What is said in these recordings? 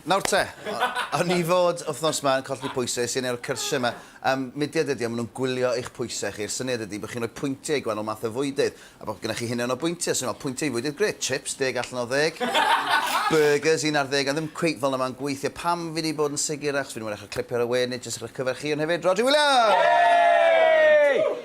Nawr te, o'n i fod wthnos ma yn colli pwyse, es i neud y cyrsie ma, yym mudiad ydi o, ma nhw'n gwylio eich pwyse chi, y syniad ydi bo chi'n rhoi pwyntie i gwanol math o fwydydd, a bo gynych chi hunian o bwyntie, so o'n i'n meddwl pwyntie i fwydydd, grêt, chips, deg allan o ddeg, burgers, un ar ddeg, ond ddim cweit fel na ma'n gweithio, pam fi di bod yn sigur, achos fi di mwynhau eich clipio ar y we, nid jyst ar eich cyfer chi, ond hefyd Rhodri Williams!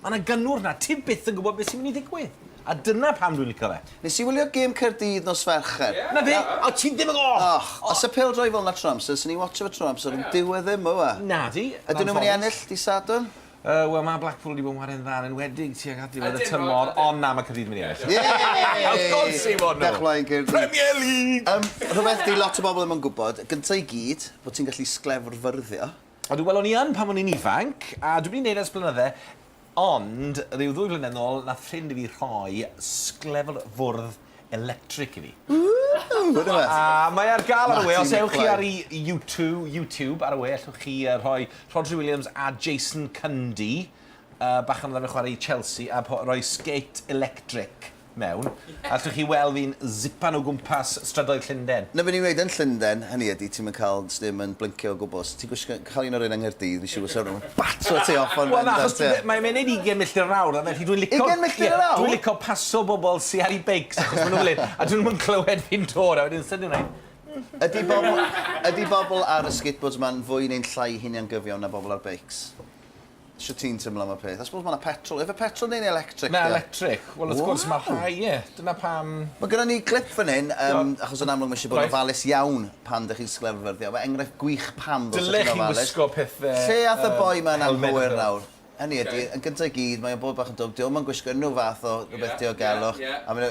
Mae 'na gynnwrf 'na, ti byth yn gwybod beth sy'n mynd i ddigwydd. A dyna pam dwi'n licio fe. Nes i wylio gêm Caerdydd nos Fercher. Yeah. 'Na fe! O, ti ddim yn gwybod! Och, os y pêl-droed fel 'na tro amser, swn i'n watsio fe tro amser, ond dyw e ddim, yw e? Nadi. Ydyn nhw'n mynd i ennill dydd Sadwrn? Yy, wel, mae Blackpool wedi bod yn chwarae'n dda yn enwedig tuag at ddiwedd y tymor, ond na, mae Caerdydd yn mynd i ennill. Yay! Of course they won nhw! Dewch mlaen, Caerdydd. Premier League! Yym, rhywbeth 'di lot o bobl ddim yn gwybod, gynta' i gyd, bod ti'n gallu sglefrfyrddio. Ydw, wel o'n i yn pan o'n i'n ifanc, a dwi wedi neud e ers blynydde, ond ryw ddwy flynedd nôl nath ffrind i fi rhoi sglefl fwrdd electric i fi. Ww! Wede fe? A mae ar ga'l ar y we, os ewch chi ar i Youtwo, YouTube, ar y we ellwch chi yy rhoi Rhodri Williams a Jason Cundy yy bachgen odd arfer chware i Chelsea a po- roi skate electric. mewn, a allwch chi weld fi'n zipan o gwmpas strydoedd Llunden. Na be ni'n wneud yn Llunden, hynny ydi, ti'm yn cael sdim yn blincio o gwbl. Os ti'n gwisgo, cael un o'r rhein yng Nghaerdydd, fi'n siŵr fysa nhw'n bato ti off yn bendant, ie. Wel, achos ti be', mae e'n mynd 20 milltir yr awr, a felly dwi'n lico... 20 milltir yr awr? ...dwi'n lico paso bobl sy ar 'u beics, achos ma' nhw'n mynd late, a 'dyn nhw'm yn clywed fi'n dod, a wedyn sydyn nhw'n mynd... Ydi bobl, ydi bobl ar y skateboards 'ma'n fwy neu'n llai huniangyfiawn na bobl ar beics? Shwt ti'n teimlo am y peth? I suppose mae yna petrol. Efe petrol neu'n electric? Na, electric. Wel, wrth gwrs, mae rhai, ie. Dyna pam... Mae gyda ni glip fan hyn, um, achos yn amlwg mae eisiau bod yn ofalus iawn pan ydych chi'n sgle'r fyfyrddio. Mae enghraifft gwych pam ddod sy'n ofalus. Dylech chi wisgo pethau... Lle ath y boi mae'n anghywir nawr? Hynny ydy, yn gyntaf i gyd, mae'n bod bach yn dwb. Diolch mae'n gwisgo unrhyw fath o rhywbeth diogelwch. A mae'n...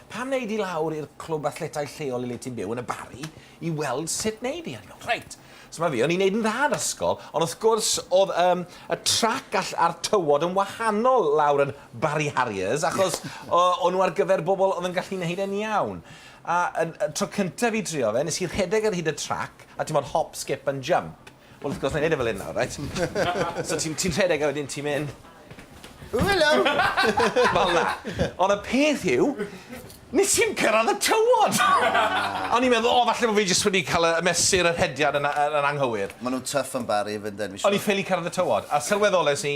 Pam wneud i lawr i'r clwb athletau lleol i le ti'n byw yn y Barri i weld sut wneud i hynny? Reit, so mae fi, o'n i'n neud yn dda yn ysgol, ond wrth gwrs oedd um, y trac a'r tywod yn wahanol lawr yn Barri Harriers, achos o'n nhw ar gyfer bobl oedd yn gallu wneud e'n iawn. A y tro cyntaf i drio fe, nes i rhedeg ar hyd y trac, a ti'n modd hop, skip and jump. Wel, wrth gwrs, na i neud e fel hyn nawr, reit? So ti'n ti rhedeg a wedyn ti'n mynd... O, helo! Fel na. Ond y peth yw, nes i'm cyrraedd y tywod! A o'n i'n meddwl, o, falle bod fi jyst wedi cael y mesur y rhediad yn anghywir. Maen nhw'n tuff yn Bari i fynd ennill. O'n i ffili cyrraedd y tywod, a sylweddolais i,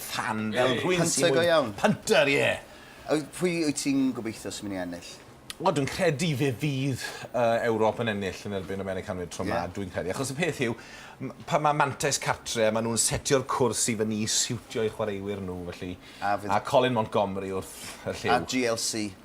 tan fel rhywun sy'n... Hunter go iawn. Hunter, ie. A pwy wyt ti'n gobeithio sy'n mynd i ennill? Wel, dwi'n credu fe fydd uh, Ewrop yn ennill yn erbyn Americanwyr tro yeah. ma, dwi'n credu. Achos y peth yw, pan mae Mantes cartre, maen nhw'n setio'r cwrs i fyny i siwtio i chwaraewyr nhw, felly. A, fydd... a Colin Montgomery wrth y lliw. A GLC.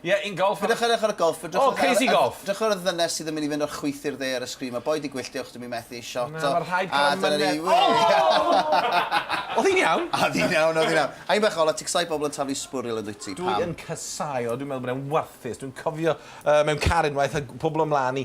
Ie, un golff a... Peidiwch â edrych ar y golff, edrychwch ar... O, crazy golff! Edrychwch ar y ddynes sydd yn mynd i fynd o'r chwith i'r dde ar y sgrin. Mae boi 'di gwyllt, diolch, dw i'n methu ei shot o. Na, mae rhaid cael myned. O! Oedd hi'n iawn? Oedd hi'n iawn, oedd hi'n iawn. Haen bach ola, ti'n casau pobl yn taflu sbwriel yn dwyt ti, pam? Dw i'n casau o, dwi'n meddwl bod e'n warthus. Dwi'n cofio mewn car unwaith a pobl o mlaen i.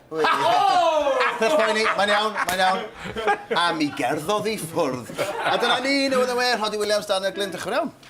Peth poeni, mae'n iawn, mae'n iawn. A mi gerddodd i ffwrdd. A dyna ni, newydd yn well, Rhodri Williams, Daniel Glyn, diolch yn iawn.